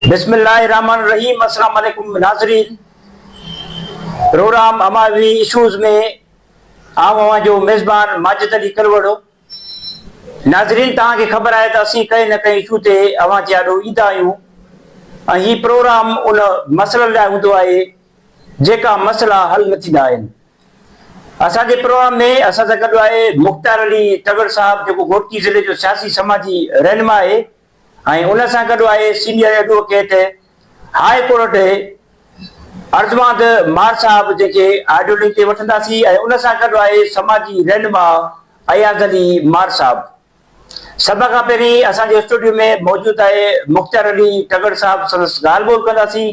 بسم الله الرحمن الرحيم السلام عليڪم ناظرين پروگرام اماوي اشوز ۾ آئون اوهان جو ميزبان ماجد علي ڪلوڙو ناظرين توهان کي خبر آهي ته اسين ڪنهن نه ڪنهن اشو تي اوهان جي آڏو ايندا آهيون ۽ هي پروگرام ان مسئلن لاء هوندو آهي جيڪا مسئلا حل نه ٿيندا آهن اسان جي پروگرام ۾ اسان سان گڏ آهي مختيار علي تڳڙ صاحب جيڪو گهوٽڪي ضلعي جو سياسي سماجي رهنما آهي ۽ ان سان گڏ آء senior advocate high court Arjumand مار صاحب جن کي آڊيو لنڪ تي وٺنداسين ۽ ان سان گڏ آء سماجي رهنما اياز علي مار صاحب سڀ کان پهرين اسان جي اسٽوڊيو ۾ موجود آء مختيار علي ٽڳڙ صاحب سندس ڳالهه ٻولهه ڪنداسين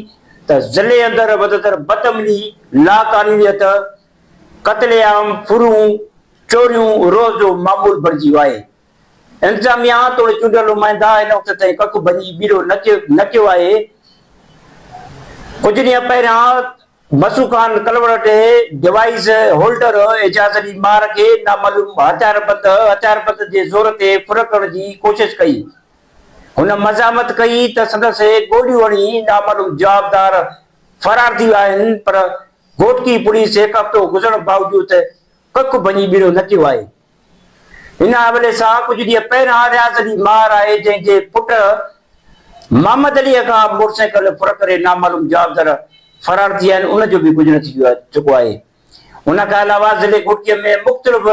ته ضلعي اندر وڌندڙ بد امني، لاقانونيت، قتل عام، ڦرون، چوريون روز جو معمول بڻجي ويو آهي. انتظاميا توڙي چونڊيل نمائندا هن وقت تائين ڪک ڀڃي ٻيرو نه ڪيو آهي. ڪجهه ڏينهن پهريان مسعود خان ڪلوڙٽ ڊوائيس هولڊر اعجاز علي مار کي نامعلوم هٿياربند هٿياربند جي زور تي ڦرڪڻ جي ڪوشش ڪئي. هن مزاحمت ڪئي ته سندس گوليون هڻي نامعلوم جوابدار فرار ٿي ويا آهن پر گهوٽڪي پوليس هڪ هفتو گذرڻ باوجود ڪک ڀڃي ٻيرو نه ڪيو آهي. هن حوالي سان ڪجهه ڏينهن پهريان رياض علي مار آهي جنهن جي پٽ محمد علي کان موٽرسائيڪل ڦر ڪري نامعلوم جوابدار فرار ٿي ويا آهن ان جو به ڪجهه نه ٿي چڪو آهي ان کان علاوه ضلعي گهوٽڪي ۾ مختلف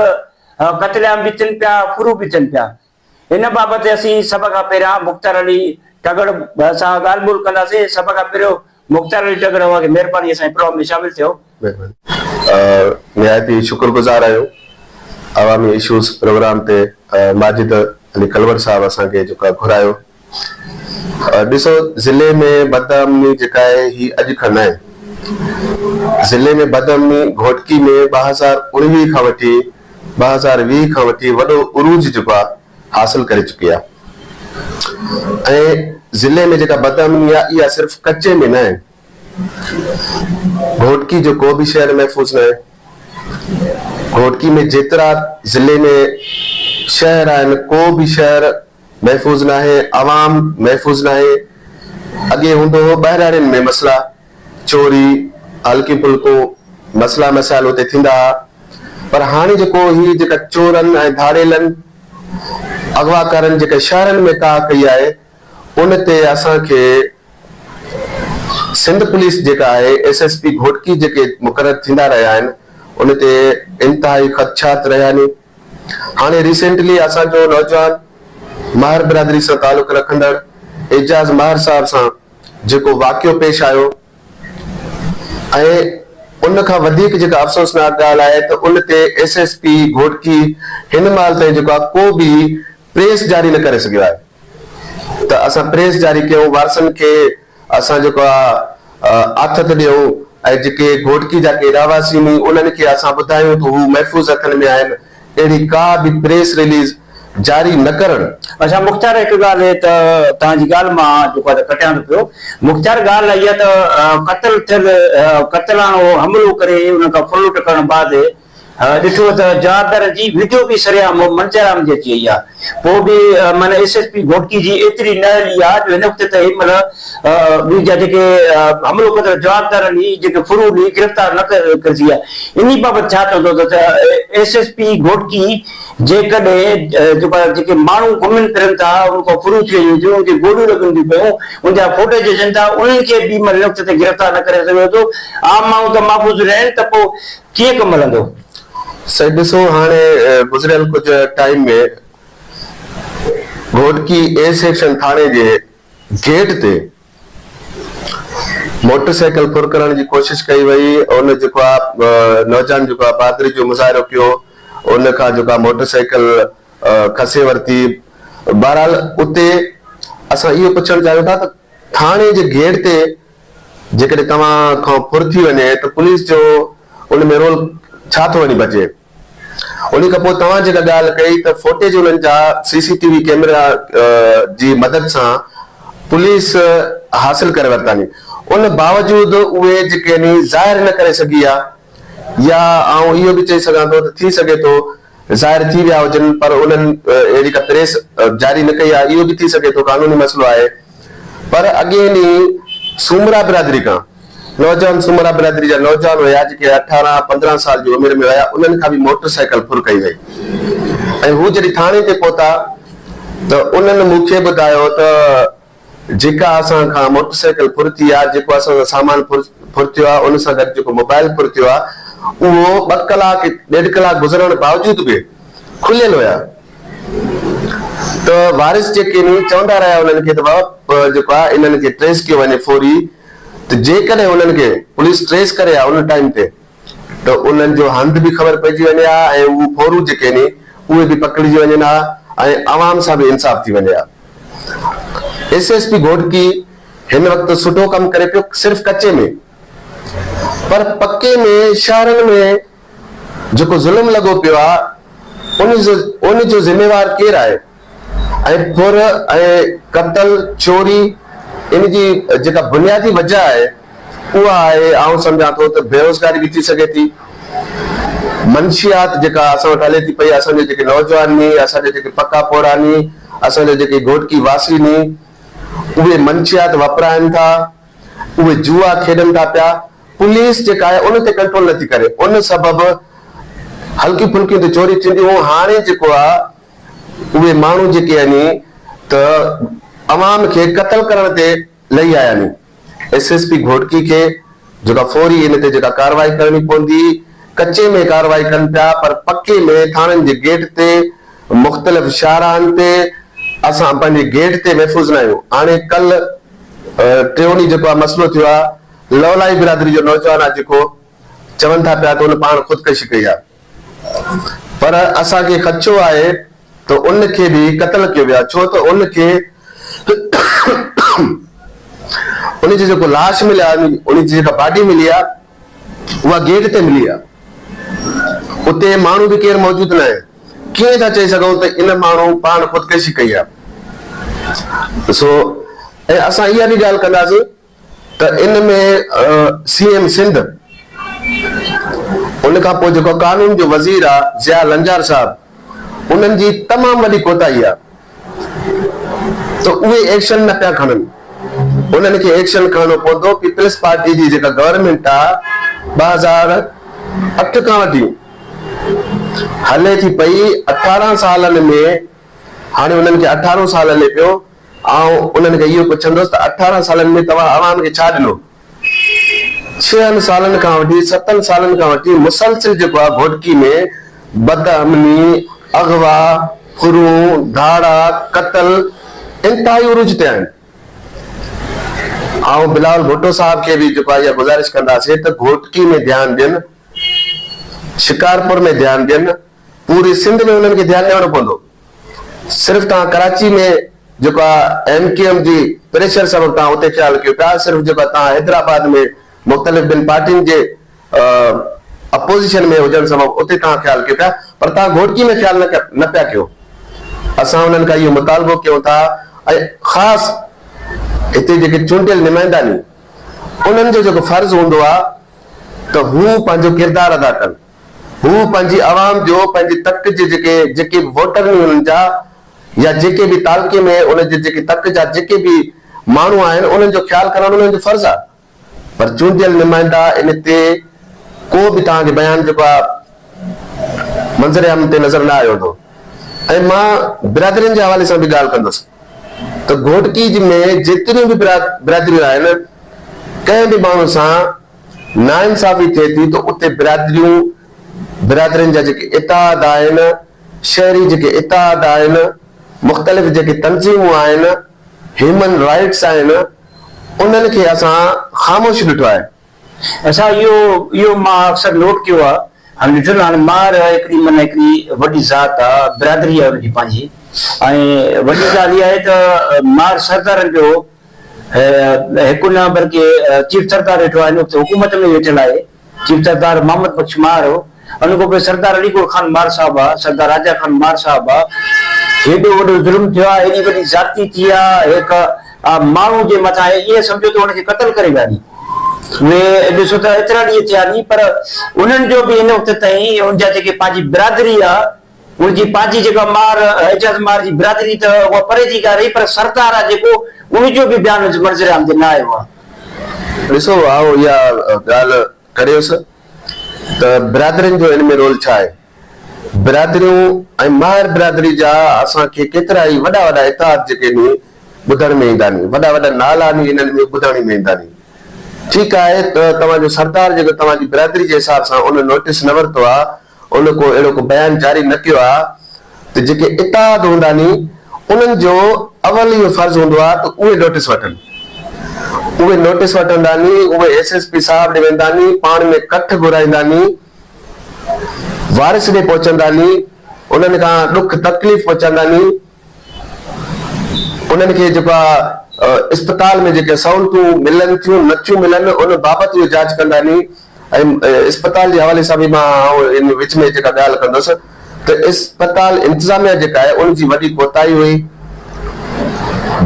قتل عام به ٿين پيا ڦرو به ٿين پيا ان بابت اسين سڀ کان پهريان مختيار علي ٽڳڙ سان ڳالهه ٻولهه ڪنداسين. سڀ کان پهريون مختيار علي ٽڳڙ اوهان کي مهرباني اسان جي پروگرام ۾ شامل ٿيو. مهرباني. نهايت ئي شڪرگذار آهيون عوامي اشوز پروگرام تي ماجد علي ڪلوڙ صاحب اسان کي جيڪو آهي گهرايو. ڏسو ضلعي ۾ بدامني جيڪا آهي هي اڄ کان ناهي. ضلعي ۾ بدامني گهوٽڪي ۾ ٻه هزار اڻويهه کان وٺي ٻه هزار ويهه کان وٺي وڏو عروج جيڪو آهي حاصل ڪري چڪي آهي ۽ ضلعي ۾ جيڪا بدامني آهي اها صرف ڪچي ۾ ناهي گهوٽڪي جو ڪو به شهر محفوظ ناهي گهوٽڪي ۾ جيترا ضلعي ۾ شهر آهن ڪو به شهر محفوظ ناهي، عوام محفوظ ناهي، اڳي هوندو هو ٻهراڙين ۾ مسئلا، چوري، هلڪيون ڦلڪون مسئلا مسائل اتي ٿيندا ها پر هاڻي جيڪو هي جيڪا چورن ۽ ڌاڙيلن اغواڪارن جيڪا شهرن ۾ ڪاهه ڪئي آهي ان تي اسان کي سنڌ پوليس جيڪا آهي ايس ايس پي گهوٽڪي جيڪي مقرر ٿيندا رهيا آهن ان تي انتهائي خدشات رهيا ني هاڻي ريسينٽلي اسان جو نوجوان ماهر برادري سان تعلق رکندڙ اعجاز ماهر صاحب سان جيڪو واقعو پيش آيو ۽ ان کان وڌيڪ جيڪا افسوسناڪ ڳالهه آهي ته ان تي ايس ايس پي گهوٽڪي هن مهل تائين جيڪو آهي ڪو به پريس جاري نه ڪري سگهيو آهي ته اسان پريس جاري ڪيون وارثن کي اسان جيڪو آ آٿت ڏيون ۽ جيڪي گهوٽڪي جا ڪي رهواسين ني انهن کي اسان ٻڌايون ته هو محفوظ هٿن ۾ آهن اهڙي ڪا به پريس رليز جاري نه ڪرڻ. اڇا مختيار هڪ ڳالهه هي ته توهان جي ڳالهه مان جيڪو آ ته ڪٽيان ٿو پيو مختيار ڳالهه اها ته قتل ٿيل قتلانو حملو ڪري انهن کان ڦرلٽ ڪرڻ بعد ڏٺو ته جادر جي ويڊيو به سرعام مون منظرعام جي اچي وئي آهي پوء به معنيٰ ايس ايس پي گهوٽڪي جي ايتري نه هلي آهي جو هن وقت تائين معنيٰ به جا جيڪي حملو ڪندڙ جوابدار آهن اهي جيڪي فرو ڏئي گرفتار نه ڪري سگهيا انهي بابت ڇا چوندو ته ايس ايس پي گهوٽڪي جيڪڏهن جيڪو آهي جيڪي ماڻهو گهمن ڦرن ٿا ان کان فرو ٿي وڃن ٿيون ان کي گوليون لڳن ٿيون پيون ان جا فوٽيج اچن ٿا انهن کي به معنيٰ هن وقت تائين گرفتار نه ڪري سگهيو اٿو عام ماڻهو ته محفوظ نه آهن ته پوء ڪيئن ڪم هلندو؟ سائين ڏسو هاڻي گذريل ڪجهه ٽائيم ۾ گهوٽڪي اي سيڪشن ٿاڻي جي گيٽ تي موٽر سائيڪل ڦر ڪرڻ جي ڪوشش ڪئي وئي ان جيڪو آ نوجان جيڪو آ بھادري جو مظاهرو ڪيو ان کان جيڪو آ موٽر سائيڪل کسي ورتي بھرحال اتي اسان اهو پڇڻ چاهيون ٿا ته ٿاڻي جي گيٽ تي جيڪڏهن توهان کان ڦر ٿي وڃي ته پوليس جو ان ۾ رول ڇا ٿو وڃي بچي؟ انهي کان پوء توهان جيڪا ڳالهه ڪئي ته فوٽيج انهن جا C C T V camera جي مدد سان پوليس حاصل ڪري ورتاني ان باوجود اهي جيڪي ني ظاهر نه ڪري سگهي ها يا آئون اهو به چئي سگهان ٿو ته ٿي سگهي ٿو ظاهر ٿي ويا هجن پر انهن اهڙي ڪا پريس جاري نه ڪئي آهي اهو به ٿي سگهي ٿو قانوني مسئلو آهي پر اڳين ئي سومرا برادري کان نوجوان سومرا برادري جا نوجوان هيا جيڪي اٺارهن پندرهن سال جي عمر ۾ هيا انهن کان به موٽر سائيڪل ڦر ڪئي وئي ۽ هو جڏهن ٿاڻي تي پهتا ته انهن مون کي ٻڌايو ته جيڪا اسان کان موٽر سائيڪل ڦرتي آ، جيڪو اسان سان سامان ڦرتيو آ، ان سان گڏ جيڪو موبائيل ڦرتيو آ، اهو ٻه ڪلاڪ، ڏيڍ ڪلاڪ گذرڻ باوجود به کليل هيا ته وارث جيڪي ني چوندا رهيا انهن کي ته بابا جيڪو آ انهن کي ٽريس ڪيو وڃي فوري ته جيڪڏهن انهن کي پوليس ٽريس ڪري ها ان ٽائيم تي ته انهن جو هنڌ به خبر پئجي وڃي ها ۽ اهو ڦورون جيڪي آهن اهي به پڪڙجي وڃن ها ۽ عوام سان به انصاف ٿي وڃي ها. ايس ايس پي گهوٽڪي هن وقت سٺو ڪم ڪري پيو صرف ڪچي ۾ پر پڪي ۾ شهرن ۾ جيڪو ظلم لڳو پيو آهي ان جو ذميوار ڪير آهي؟ ۽ ڦر ۽ قتل، چوري، ان جي جيڪا بنيادي وجه آهي اها آهي آئون سمجهان ٿو ته بيروزگاري به ٿي سگهي ٿي. منشيات جيڪا اسان وٽ هلي ٿي پئي اسان جا جيڪي نوجوان ني اسان جا جيڪي پڪا پوڙها ني اسان جا جيڪي گهوٽڪي واسي ني اهي منشيات وپرائن ٿا اهي جوئا کيڏن ٿا پيا پوليس جيڪا آهي ان تي ڪنٽرول نٿي ڪري ان سبب هلڪي ڦلڪيون ته چوري ٿينديون هاڻي جيڪو آ اهي ماڻهو جيڪي يعني ته عوام کي قتل ڪرڻ تي لهي آيا ني ايس ايس پي گهوٽڪي کي جيڪا فوري ان تي جيڪا ڪارروائي ڪرڻي پوندي ڪچي ۾ ڪارروائي ڪن پيا پر پڪي ۾ ٿاڻن جي گيٽ تي مختلف شاهراهن تي اسان پنهنجي گيٽ تي محفوظ نه آهيون هاڻي ڪل ٽيون ڏينهن جيڪو آ مسئلو ٿيو آ لولائي برادري جو نوجوان آ جيڪو چون ٿا پيا ته ان پاڻ خودڪشي ڪئي آ. پر اسان کي خدشو آهي ته ان کي به قتل ڪيو ويو آهي ڇو ته ان کي ان جي جيڪو لاش ملي آهي ان جي جيڪا باڊي ملي آهي اها گيٽ تي ملي آهي اتي ماڻهو به ڪير موجود ناهي ڪيئن ٿا چئي سگهون ته ان ماڻهو پاڻ خودڪشي ڪئي آهي سو ۽ اسان اها به ڳالهه ڪنداسين ته ان ۾ سي ايم سنڌ ان کان پوء جيڪو قانون جو وزير آ ضياء لنجار صاحب انهن جي تمام وڏي ڪوتاهي آ ته اهي ايڪشن نه پيا کڻن انهن کي ايڪشن کڻڻو پوندو پيپلز پارٽي جي جيڪا گورنمينٽ آ ٻه هزار اٺ کان وٺي هلي ٿي پئي اٺارهن سالن ۾ هاڻي انهن کي اٺارهون سال هلي پيو آئون انهن کي اهو پڇندس ته اٺارهن سالن ۾ توهان عوام کي ڇا ڏنو؟ ڇهن سالن کان وٺي ستن سالن کان وٺي مسلسل جيڪو آ گهوٽڪي ۾ بدامني، اغوا، ڦرون، ڌاڙا، قتل انتهائي عروج تي آهن. آئون بلاول ڀٽو صاحب کي به جيڪو آ اها گذارش ڪنداسين ته گهوٽڪي ۾ ڌيان ڏين، شڪارپور ۾ ڌيان ڏين، پوري سنڌ ۾ انهن کي ڌيان ڏيڻو پوندو. صرف توهان ڪراچي ۾ جيڪو آ ايم ڪيو ايم جي پريشر سبب توهان اتي خيال ڪيو پيا صرف جيڪو آ توهان حيدرآباد ۾ مختلف ٻن پارٽين جي اپوزيشن ۾ هجڻ سبب اتي توهان خيال ڪيو پيا پر توهان گهوٽڪي ۾ خيال نه پيا ڪيو اسان انهن کان اهو مطالبو ڪيون ٿا ۽ خاص هتي جيڪي چونڊيل نمائندا ني انهن جو جيڪو فرض هوندو آ ته هو پنهنجو ڪردار ادا ڪن. هو پنهنجي عوام جو پنهنجي تڪ جي جيڪي جيڪي به ووٽر ني انهن جا يا جيڪي به تعلقي ۾ ان جي جيڪي تڪ جا جيڪي به ماڻهو آهن انهن جو خيال ڪرڻ انهن جو فرض آ پر چونڊيل نمائندا ان تي ڪو به توهان کي بيان جيڪو آ منظر عام تي نظر نه آيو هوندو ۽ مان برادرين جي حوالي سان به ڳالهه ڪندس ته گهوٽڪي جي ۾ جيتريون به برادريون آهن ڪنهن به ماڻهو سان ناانصافي ٿئي ٿي ته اتي برادريون برادرين جا جيڪي اتحاد آهن، شهري جيڪي اتحاد آهن، مختلف جيڪي تنظيمون آهن، هيومن رائيٽس آهن، انهن کي اسان خاموش ڏٺو آهي. اسان اهو اهو مان اڪثر نوٽ ڪيو آهي ۽ ڏٺل آهن مار هڪڙي معنيٰ هڪڙي وڏي ذات آهي، برادري آهي ان جي پنهنجي ۽ وڏي ڳالهه اها آهي ته مار سردارن جو هڪ ان پر ڪي چيف سردار ويٺو آهي اتي حڪومت ۾ ويٺل آهي چيف سردار محمد بخش مار هو ان کان پوء سردار علي گوڙ خان مار صاحب آ سردار راجا خان مار صاحب آ هيڏو وڏو ظلم ٿيو آ هيڏي وڏي زيادتي ٿي آ هڪ ماڻهو جي مٿان ائين سمجهو ته ان کي قتل ڪري ويهاري وي ڏسو ته ايترا ڏينهن ٿيا ني پر انهن جو به هن وقت تائين ان جا جيڪي پنهنجي برادري آ هن جي پنهنجي جيڪا مار اعجاز مار جي برادري ته اها پري جي ڳالهه رهي پر سردار آ جيڪو ان جو به بيان منظر عام تي نه آيو آ. ڏسو آئون اها ڳالهه ڪريس ته برادرين جو ان ۾ رول ڇا آهي؟ برادريون ۽ ماهر برادري جا اسان کي ڪيترا ئي وڏا وڏا اتحاد جيڪي ني ٻڌڻ ۾ ايندا ني وڏا وڏا نالا ني انهن ۾ ٻڌڻي ۾ ايندا ني ٺيڪ آهي ته توهان جو سردار جيڪو توهان جي برادري جي حساب سان ان نوٽس نه ورتو آ ان ڪو اهڙو ڪو بيان جاري نه ڪيو آهي ته جيڪي اتحاد هوندا ني انهن جو اول اهو فرض هوندو آهي ته اهي نوٽيس وٺن اهي نوٽيس وٺندا ني اهي ايس ايس پي صاحب ڏي ويندا ني پاڻ ۾ ڪٺ گهرائيندا ني وارث ڏي پهچندا ني انهن کان ڏک تڪليف پهچاندا ني انهن کي جيڪو آ اسپتال ۾ جيڪي سهولتون ملن ٿيون نه ٿيون ملن ان بابت اهو جاچ ڪنداني ۽ اسپتال جي حوالي سان به مان ان وچ ۾ جيڪا ڳالهه ڪندس ته اسپتال انتظاميا جيڪا آهي ان جي وڏي ڪوتاهي هئي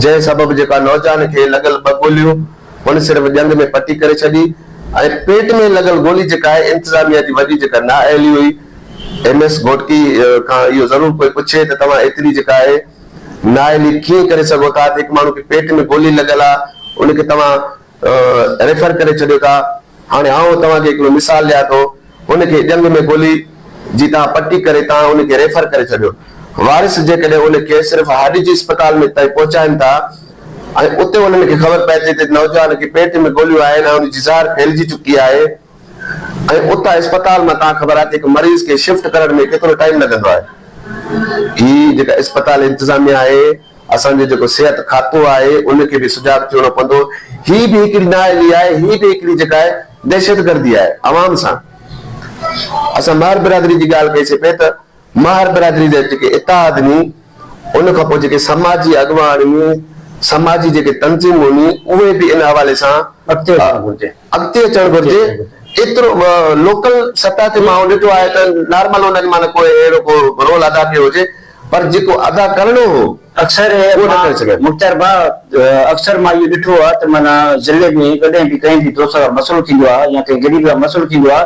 جنهن سبب جيڪا نوجوان کي لڳل ٻه گوليون ان صرف ڄنگ ۾ پٽي ڪري ڇڏي ۽ پيٽ ۾ لڳل گولي جيڪا آهي انتظاميا جي وڏي جيڪا نااهلي هئي ايم ايس گهوٽڪي کان اهو ضرور ڪوئي پڇي ته توهان ايتري جيڪا آهي نااهلي ڪيئن ڪري سگهو ٿا ته هڪ ماڻهو کي پيٽ ۾ گولي لڳل آ ان کي توهان ريفر ڪري ڇڏيو ٿا هاڻي آئون توهان کي هڪڙو مثال ڏيان ٿو ان کي ڄنگهه ۾ گولي جي توهان پٽي ڪري توهان ان کي ريفر ڪري ڇڏيو وارث جيڪڏهن ان کي صرف هڏ جي اسپتال ۾ تائين پهچائن ٿا ۽ اتي انهن کي خبر پئي ٿي ته نوجوان کي پيٽ ۾ گوليون آهن ۽ ان جي زهر ڦهلجي چڪي آهي ۽ اتان اسپتال مان تان خبر آهي ته هڪ مريض کي شفٽ ڪرڻ ۾ ڪيترو ٽائيم لڳندو آهي. هي جيڪا اسپتال انتظاميه آهي، اسان جو جيڪو صحت کاتو آهي ان کي به سجاڳ ٿيڻو پوندو. هي به هڪڙي نااهلي آهي، هي به هڪڙي جيڪا آهي دهشتگردي آهي عوام سان. اسان مهر برادري جي ڳالهه ڪئي سي پئي ته مهر برادري جا جيڪي اتحاد ني ان کان پوء جيڪي سماجي اڳواڻ ني سماجي جيڪي تنظيمون ني اهي به ان حوالي سان اڳتي اچڻ گهرجي. اڳتي اچڻ گهرجي ايترو لوڪل سطح تي مان ڏٺو آهي ته نارمل انهن مان نه ڪو اهڙو ڪو رول ادا ڪيو هجي پر جيڪو ادا ڪرڻو هو اڪثر اهو نه ڪري سگهيا. مختيار ڀاء اڪثر مان اهو ڏٺو آهي ته معنيٰ ضلعي ۾ ڪڏهن به ڪنهن به دوست سان مسئلو ٿيندو آهي يا ڪنهن غريب سان مسئلو ٿيندو آهي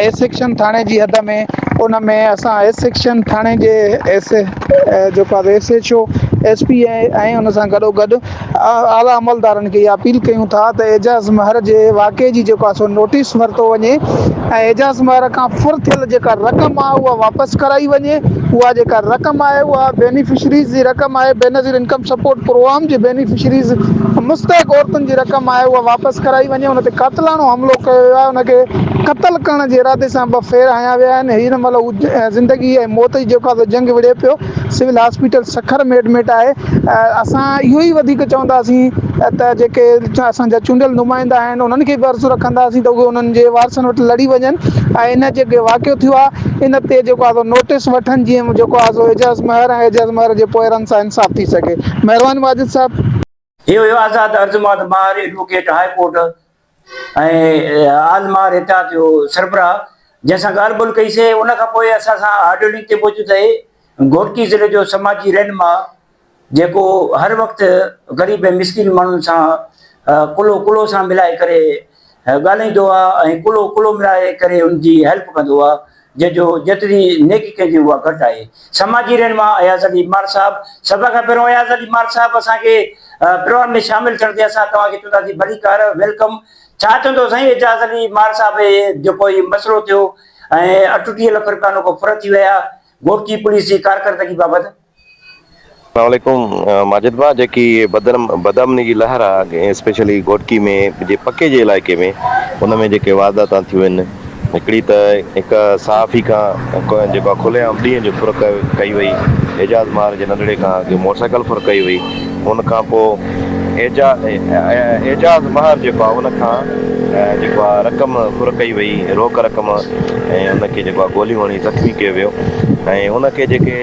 ايس سيڪشن ٿاڻي جي حد ۾ ان ۾ اسان ايس سيڪشن ٿاڻي جي ايس جيڪو آهي S H O S P A ۽ ان سان گڏو گڏ اعليٰ عملدارن کي اها اپيل ڪيون ٿا ته اعجاز مهر جي واقعي جي جيڪو آسو نوٽيس ورتو وڃي ۽ اعجاز مهر کان فر ٿيل جيڪا رقم آهي اها واپس ڪرائي وڃي اها جيڪا رقم آهي اها بينيفشريز جي رقم آهي بينظير انڪم سپورٽ پروگرام جي بينيفشريز مستحق عورتن جي رقم آهي اها واپس ڪرائي وڃي ان تي قاتلاڻو حملو ڪيو ويو آهي ان کي قتل ڪرڻ جي ارادي سان ٻه ڦير هنيا ويا آهن هن مهل هو زندگي ۽ موت جي جوکاڌو جنگ وڙهي پيو سول هاسپيٽل سکر ۾ ايڊمٽ آهي اسان اهو ئي وڌيڪ چونداسين ته جيڪي اسان جا چونڊيل نمائندا آهن انهن کي به عرض رکنداسين ته اهي انهن جي وارثن وٽ لڙي وڃن ۽ هن جيڪي واقعو ٿيو آهي ان تي جيڪو آهي نوٽس وٺن جيئن جيڪو آهي اعجاز مهر ۽ اعجاز مهر جي پوئرن سان انصاف ٿي سگهي مهرباني ماجد صاحب هي هيو آزاد Arjumand Mahar advocate high court ۽ all Mahar اتحاد جو سربراهه جنهن سان ڳالهه ٻولهه ڪئي سي ان کان پوء اسان سان آڊيو لنڪ تي موجود اهي گهوٽڪي ضلعي جو سماجي رهنما جيڪو هر وقت غريب ۽ مسڪين ماڻهن سان ڪلهو ڪلهو سان ملائي ڪري ڳالهائيندو آ ۽ ڪلهو ڪلهو ملائي ڪري ان جي هيلپ ڪندو آ جنهن جو جيتري نيڪي ڪئي ٿي اها گهٽ آهي سماجي رهنما اياز علي مار صاحب سڀ کان پهريون اياز علي مار صاحب اسان کي پروگرام ۾ شامل ٿيڻ تي اسان توهان کي چوندا سي ڀلي ڪار ويلڪم ڇا چوندو سائين ايجاز علي مار صاحب جيڪو هي مسئلو ٿيو ۽ اٺٽيهه لک روپيا نو ڪو ڦر ٿي ويا گهوٽڪي پوليس جي ڪارڪردگي بابت اسلام عليڪم ماجد ڀاء جيڪي بدرم بدامني جي لهر آ اسپيشلي گهوٽڪي ۾ جي پڪي جي علائقي ۾ ان ۾ جيڪي وارداتان ٿيون آهن هڪڙي ته هڪ صحافي کان جيڪا کلي عام ڏينهن جو ڦر ڪيو ڪئي وئي اعجاز مار جي ننڍڙي کان جي موٽر سائيڪل ڦر ڪئي وئي ان کان پو اعجا اعجاز مهر جيڪو آ ان کان جيڪو آ رقم ڦر ڪئي وئي روڪ رقم ۽ ان کي جيڪو آ گوليون هڻي زخمي ڪيو ويو ۽ ان کي جيڪي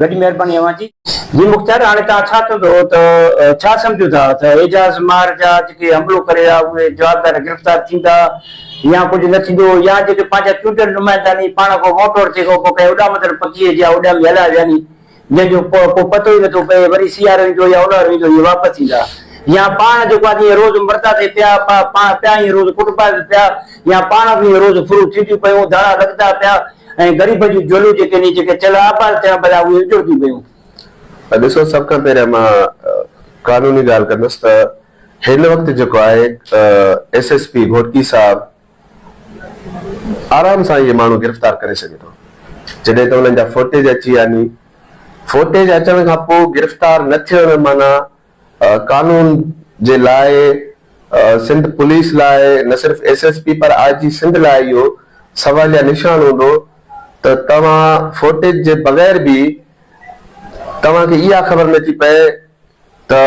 وڏي مهرباني اوهان جي. جي مختيار هاڻي توهان ڇا چون ٿو ته ڇا سمجهون ٿا ته اعجاز مار جا جيڪي حملو ڪري ها اهي جوابدار گرفتار ٿيندا يا ڪجهه نه ٿيندو يا جيڪي پنهنجا چونڊيل نمائندا ني پاڻ کان موٽور تي ڪو ڪنهن اڏامندڙ پکي جيان اڏامي هلايا ويا ني جنهن جو ڪو پتو ئي نه ٿو پئي وري سيارو ايندو يا اونهارو ايندو اهي واپس ايندا يا پاڻ جيڪو آهي اهي روز مردا ٿي پيا پاڻ پيا اهي روز ڪٽبا به پيا يا پاڻ به اهي روز ڦرون ٿينديون پيون ڌاڙا لڳندا پيا ۽ غريبن جون جولون جيڪي هن جيڪي چيلهه آباد ٿيا ڀلا اهي اجڙجي ويون. ته ڏسو سڀ کان پهريان مان قانوني ڳالهه ڪندس ته هن وقت جيڪو آهي ايس ايس پي گهوٽڪي صاحب آرام سان اهي ماڻهو گرفتار ڪري سگهي ٿو جڏهن ته انهن جا فوٽيج اچي ويا ني فوٽيج اچڻ کان پوء گرفتار نه ٿيڻ معنيٰ قانون جي لاء سنڌ پوليس لاء نه صرف ايس ايس پي پر آء جي سنڌ لاء اهو سواليه نشان هوندو ته توهان فوٽيج جي بغير به توهان کي اها خبر نه ٿي پئي ته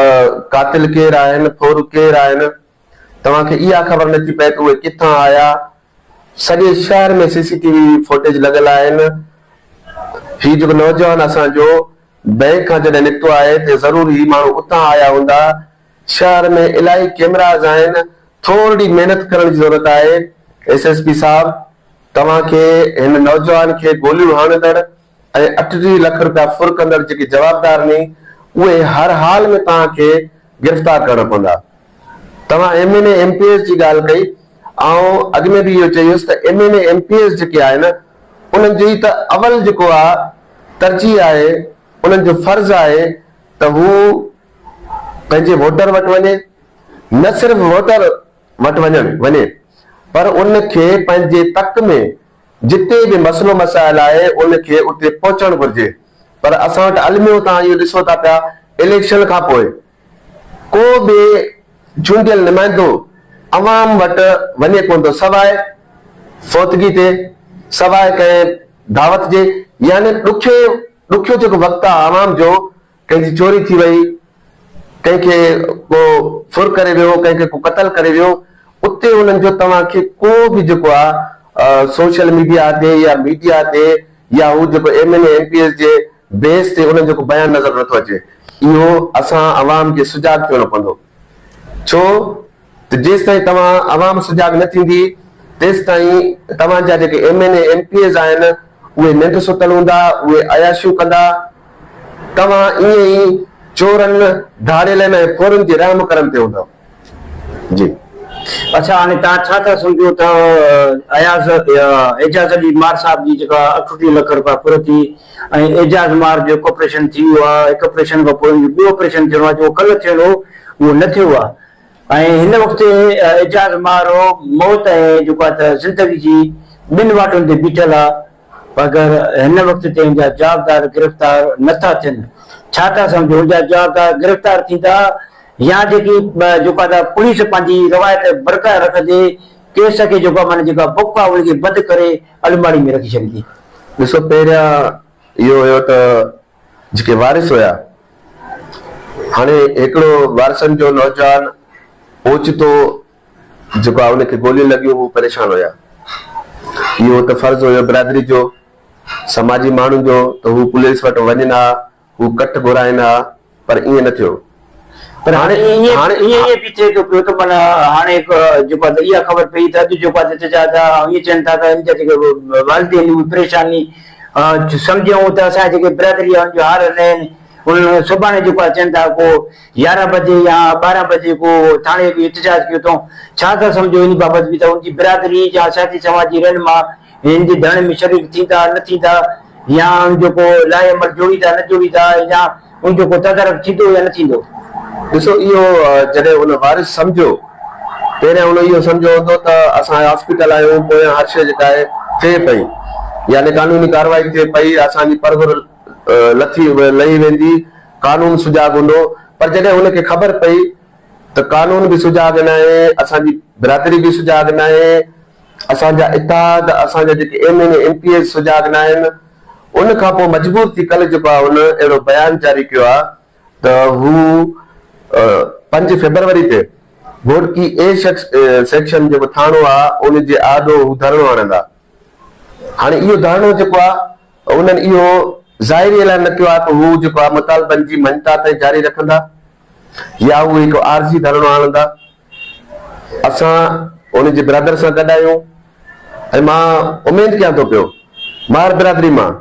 قاتل ڪير آهن ڦور ڪير آهن توهان کي اها خبر نه ٿي پئي ته اهي ڪٿان آيا سڄي شهر ۾ C C T V footage لڳل آهن هي جيڪو نوجوان اسان جو بئنڪ کان جڏهن نڪتو آهي تي ضرور هي ماڻهو اتان آيا هوندا. شهر ۾ الاهي ڪيمراز آهن، ٿورڙي محنت ڪرڻ جي ضرورت آهي. ايس ايس پي صاحب توهان کي هن نوجوان کي گوليون هڻندڙ ۽ اٺٽيهه لک رپيا ڦر ڪندڙ جيڪي جوابدار ني اهي هر حال ۾ توهان کي گرفتار ڪرڻا پوندا. توهان M N A M P S جي ڳالهه ڪئي آئون اڳ ۾ به اهو چئي هيس ته M N A M P S جيڪي آهن انهن جي ته اول جيڪو آ ترجيح آهي، انهن جو فرض آهي ته هو پنهنجي ووٽر وٽ وڃي، نه صرف ووٽر وٽ وڃڻ وڃي پر ان کي پنهنجي تڪ ۾ جتي به مسئلو مسائل آهي ان کي اتي پهچڻ گهرجي پر اسان وٽ الميو تان اهو ڏسو ٿا پيا اليڪشن کان پوء ڪو به چونڊيل نمائندو عوام وٽ وڃي ڪونه ٿو سواء فوتگي تي، سواء ڪنهن دعوت جي يعني ڏکي ڏکيو جيڪو وقت آ عوام جو ڪنهن جي چوري ٿي وئي، ڪنهن کي ڪو ڦر ڪري ويو، ڪنهن کي ڪو قتل ڪري ويو اتي انهن جو توهان کي ڪو به جيڪو آ سوشل ميڊيا تي يا ميڊيا تي يا هو جيڪو M N A M P S جي بيس تي انهن جو ڪو بيان نظر نٿو اچي. اهو اسان عوام کي سجاڳ ٿيڻو پوندو. ڇو ته جيستائين توهان عوام سجاڳ نه ٿيندي تيستائين توهان جا جيڪي M N A M P As آهن اهي ننڊ ستل هوندا اهي عياشيون ڪندا توهان ائين ئي چورن ڌاڙيلن ۽ ڦورن جي رحم ڪرم تي هوندؤ. جي اڇا هاڻي توهان ڇا ٿا سمجهو ته اياز اعجاز علي مار صاحب جي جيڪا اٺٽيهه لک روپيا ڦر ٿي ۽ اعجاز مار جو هڪ آپريشن ٿي ويو آهي هڪ آپريشن کان پوء ان جو ٻيو آپريشن ٿيڻو آهي جيڪو ڪلهه ٿيڻو هو اهو نه ٿيو آهي ۽ هن وقت اعجاز مار موت ۽ جيڪو آهي ته زندگي جي ٻن واٽن تي بيٺل آهي مگر هن وقت تي ان جا جوابدار گرفتار نه ٿا ٿين، ڇا ٿا سمجهو ان جا جوابدار گرفتار ٿيندا يا جيڪي جيڪو ادا پوليس پنهنجي روايت برقرار رکندي ڪيس کي جيڪو معنيٰ جيڪا بڪ آهي ان کي بند ڪري الماڙي ۾ رکي ڇڏيندي. ڏسو پهريان اهو هيو ته جيڪي وارث هيا هاڻي هڪڙو وارثن جو نوجوان اوچتو جيڪو آ ان کي گوليون لڳيون هو پريشان هيا. اهو ته فرض هيو برادري جو، سماجي ماڻهن جو ته هو پوليس وٽ وڃن ها، هو ڪٺ گهرائن ها پر ائين نه ٿيو. پر هاڻي ائين به ٿئي ٿو پيو ته معنيٰ هاڻي جيڪو آ ته اها خبر پئي ته اڄ جيڪو آ ته چيا ٿا ائين چين ٿا ته ان جا جيڪي والدين آهن اهي پريشان ني سمجهيون ته اسان جي جيڪي برادري آ ان جو حال نه آهن. انهن سڀاڻي جيڪو آ چين ٿا ڪو يارهن بجي يا ٻارهن بجي ڪو ٿاڻي اڳ احتجاج ڪيو اٿئون، ڇا ٿا سمجهو ان بابت به ته ان جي برادري جا سياسي سماجي رهنما هن جي ڌرڻي ۾ شريڪ ٿيندا نه ٿيندا يا ان جو ڪو لائحه عمل جوڙيندا نه جوڙيندا يا ان جو ڪو تدارڪ ٿيندو يا نه ٿيندو. ڏسو اهو جڏهن ان وارث سمجهيو پهريان ان اهو سمجهيو هوندو ته اسان هاسپيٽل آهيون پويان هر شيء جيڪا آهي ٿئي پئي يعني قانوني ڪارروائي ٿئي پئي اسان جي پرڀرل لٿي لهي ويندي، قانون سجاڳ هوندو، پر جڏهن هن کي خبر پئي ته قانون به سجاڳ ناهي، اسان جي برادري به سجاڳ ناهي، اسان جا اتحاد، اسان جا جيڪي M N A, M P As سجاڳ ناهن، ان کان پوء مجبور ٿي ڪلهه جيڪو آهي هن اهڙو بيان جاري ڪيو آهي ته هو پنج فيبروري تي گهوٽڪي اي سيڪشن جيڪو ٿاڻو آهي ان جي آڏو هو ڌرڻو هڻندا. هاڻي اهو ڌرڻو جيڪو آهي انهن اهو ظاهري اعلان نه ڪيو آهي ته هو جيڪو آهي مطالبن جي مڃتا تائين جاري رکندا يا اهو هڪ عارضي ڌرڻو آڻندا. اسان انهن جي برادر سان گڏ آهيون ۽ مان اميد ڪيان ٿو پيو ماهر برادري مان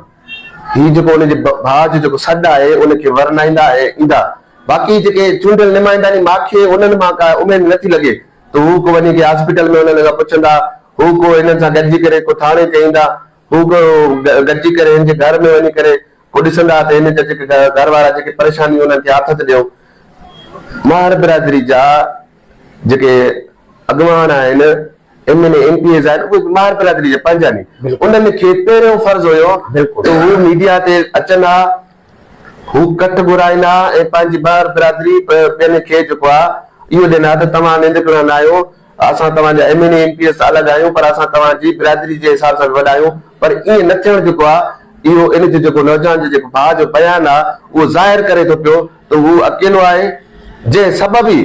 هي جيڪو انهن جي ڀاء جو جيڪو سڏ آهي ان کي ورنائيندا ۽ ايندا. باقي جيڪي چونڊيل نمائنداني ماکي انهن مان ڪا اميد نه ٿي لڳي ته هو ڪو وڃي ڪنهن هاسپيٽل ۾ انهن کان پڇندا، هو ڪو هنن سان گڏجي ڪري ڪو ٿاڻي تي ايندا، هو به گڏجي ڪري هن جي گهر ۾ وڃي ڪري پوء ڏسندا ها ته هن جا جيڪي گهر وارا جيڪي پريشانيون انهن کي آٿت ڏيو. ماهر برادري جا جيڪي اڳواڻ آهن، M N A, M P As آهن اهي به ماهر برادري جا پنهنجا ني. انهن کي پهريون فرض هيو ته هو ميڊيا تي اچن ها، هو ڪٺ گهرائن ها ۽ پنهنجي ماهر برادري پنهنجي کي جيڪو آهي اهو ڏين ها ته توهان ننڊڪڙا نه آهيو، اسان توهان جا M N A M P S ته الڳ آهيون پر اسان توهان جي برادري جي حساب سان به وڏا آهيون پر ائين نه ٿيڻ جيڪو آهي اهو ان جو جيڪو نوجوان جي جيڪو ڀاء جو بيان آهي اهو ظاهر ڪري ٿو پيو ته هو اڪيلو آهي جنهن سبب ئي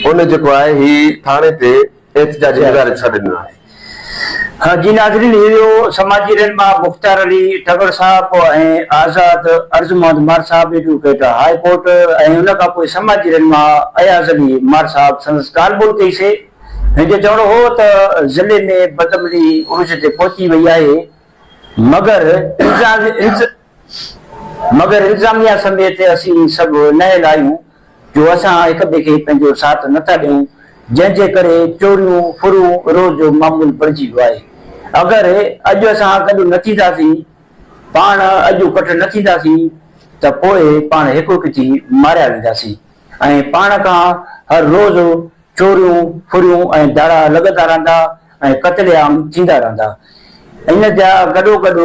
هن جيڪو آهي هي ٿاڻي تي احتجاجي مظاهري جو سڏ ڏنو آهي. ها جي ناظرين هي هيو سماجي رهنما مختيار علي ٽڳڙ صاحب ۽ آزاد عرض محمد مار صاحب ايڊووڪيٽ هاء ڪورٽ ۽ ان کان پوء سماجي رهنما اياز علي مار صاحب سندس ڳالهه ٻولهه ڪئي سي هن جو چوڻ هو ته ضلعي ۾ بدامني عروج تي پهچي وئي آهي مگر مگر انتظاميا سميت اسين سڀ نهل آهيون جو اسان هڪ ٻئي کي پنهنجو ساٿ نه ٿا ڏيون جنهن جي ڪري چوريون ڦرون روز جو معمول بڻجي ويو آهي اگر اڄ اسان گڏ نه ٿينداسين پاڻ اڄ ڪٺ نه ٿينداسين ته پوء پاڻ هڪ هڪ ٿي ماريا وينداسين ۽ پاڻ کان هر روز چوريون ڦريون ۽ ڌاڙا لڳندا رهندا ۽ قتل عام ٿيندا رهندا ان جا گڏو گڏ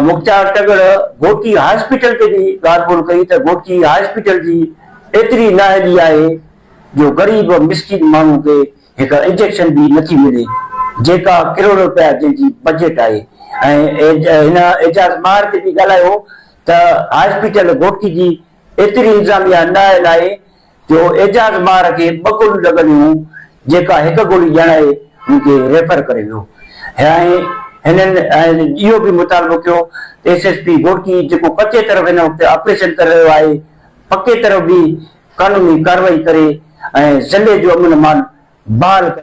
مختيار ٽڳڙ گهوٽي هاسپيٽل تي به ڳالهه ٻولهه ڪئي ته گهوٽي هاسپيٽل جي ايتري نااهلي آهي جو غريب مسڪين ماڻهو کي هڪ انجيڪشن به نٿي ملي جيڪا ڪروڙ رپيا جنهن جي بجيٽ آهي ۽ هن اعجاز ماهر تي به ڳالهايو ته هاسپيٽل گهوٽي جي ايتري انتظاميا نااهل آهي جو اعجاز مار کي ٻه گوليون لڳل هيون جيڪا هڪ گولي ڏيڻ آئي هن کي ريفر ڪري ويو هيائين هنن اهو به مطالبو ڪيو ته ايس ايس پي گهوٽڪي جيڪو ڪچي طرف هن وقت آپريشن ڪري رهيو آهي پڪي طرف به قانوني ڪارروائي ڪري ۽ ضلعي جو امن امان بحال ڪري.